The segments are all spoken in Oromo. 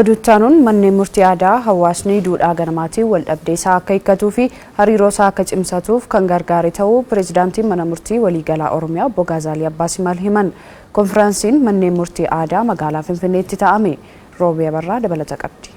Oduu itti aanuun manneen murtii aadaa hawaasni duudhaa ganamaatiin waldhabdee isaa akka hiikkatuu fi hariiroo isaa akka cimsatuuf kan gargaare ta'uu Pireezidaantiin Mana Murtii Waliigalaa Oromiyaa Obbo Gaazaalii Abbaa Simal himan. Konfiraansiin manneen murtii aadaa magaalaa Finfinneetti taa'ame. Roobii Abarraa dabalata qabdi.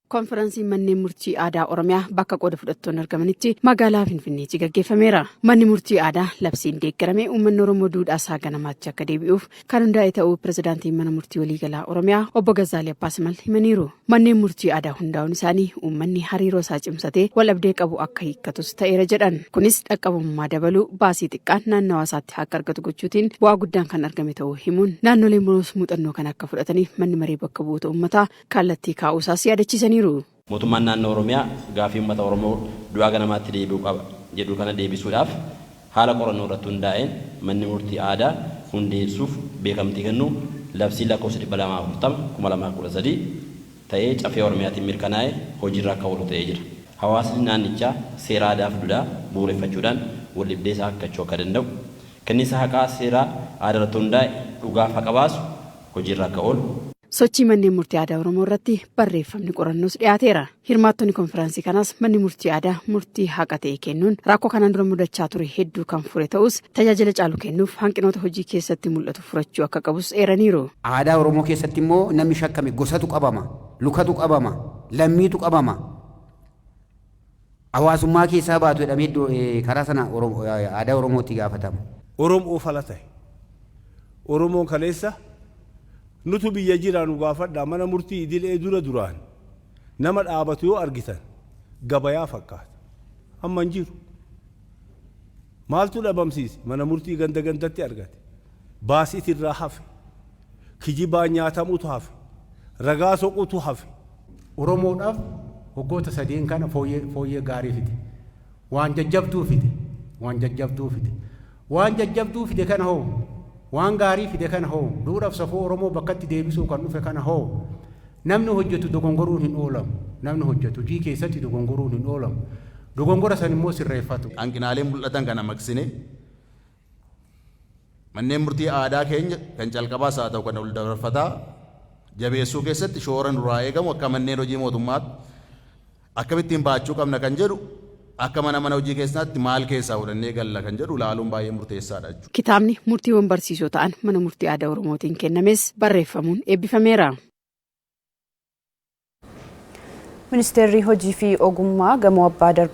Konfiransiin manneen murtii aadaa Oromiyaa bakka qooda fudhattoonni argamanitti magaalaa Finfinneetti gaggeeffameera. Manni murtii aadaa labsiin deeggarame uummanni Oromoo duudhaa isaa ganamaatti akka deebi'uuf kan hundaa'e ta'uu pirezidaantiin mana murtii waliigalaa Oromiyaa obbo Gazzaalii Abbaasimal himaniiru. Manneen murtii aadaa hundaa'uun isaanii uummanni hariiroo isaa cimsatee waldhabdee qabu akka hiikkatus ta'eera jedhan. Kunis dhaqqabummaa dabaluu baasii xiqqaan naannawaa isaatti akka argatu gochuutiin bu'aa guddaan kan argame ta'uu himuun naannoleen biroos muuxannoo kana akka fudhataniif manni maree bakka bu'oota uummataa kallattii kaa'uu isaas yaadachiisaniiru. Mootummaan Naannoo Oromiyaa gaaffii uummata Oromoo du'aa gara manaatti deebi'uu qaba jedhu kana deebisuudhaaf haala qorannoo irratti hundaa'een Manni Murtii Aadaa hundeessuuf beekamtii kennuu labsiin lakkoofsa 240, 2013 ta'ee Caffee Oromiyaatiin mirkanaa'e hojiirra akka oolu ta'ee jira. Hawaasni naannichaa seera aadaaf duudhaa bu'uureffachuudhaan waldhibdee isaa hiikkachuu akka danda'u, Kenniinsa haqaa seeraa aadarratti hundaa'e dhugaaf haqa baasu hojiirra akka oolu. Sochii Manneen Murtii Aadaa Oromoo irratti barreeffamni qorannoos dhiyaateera. Hirmaattonni konfiraansii kanaas manni murtii aadaa murtii haqa ta'e kennuun rakkoo kanaan dura mudachaa ture hedduu kan fure ta'us tajaajila caalu kennuuf hanqinoota hojii keessatti mul'atu furachuu akka qabus eeraniiru. Aadaa Oromoo keessatti immoo namni shakkame gosatu qabama, lukatu qabama, lammiitu qabama. hawaasummaa keessaa baatu jedhamee iddo karaa sana aadaa Oromoo itti gaafatama. Oromoof ala tahe. Oromoon kaleessa nutu biyya jira nu gaafadhaa mana murtii idilee dura duraan nama dhaabatu yoo argitan gabayaa fakkaata. Amma hin jiru. Maaltu dhabamsiise? Mana murtii ganda gandatti argate. Baas itirraa hafe. Kijibaan nyaatamutu hafe. Ragaa soqutu hafe. Oromoodhaaf waggoota sadeen kana fooyyee fooyyee gaarii fide. Waan jajjabduu fide. Waan jajjabduu fide. Waan jajjabduu fide kana hoo? Waan gaarii fide kana hoo? Duudhaaf safuu Oromoo bakkatti deebisuuf kan dhufe kana hoo? Namni hojjetu dogongoruun hin oolamu. Namni hojjetu hojii keessatti dogongoruun hin oolamu. Dogongora san immoo sirreeffatu. Hanqinaalee mul'atan kana maqsinee Manneen murtii aadaa keenya kan calqabaas haa ta'u kan waldabarfataa jabeessuu keessatti shoora nurraa eegamu akka manneen hojii mootummaatti akkamittiin bahachuu qabna kan jedhu akka mana mana hojii keessaatti maal keessaa fudhannee galla kan jedhu ilaaluun baay'ee murteessaadha jechuudha. Kitaabni murtiiwwan barsiisoo ta'an Mana Murtii Aadaa Oromootiin kennames barreeffamuun eebbifameera. Ministeerri Hojii fi Ogummaa gamoo Abbaa Darbii.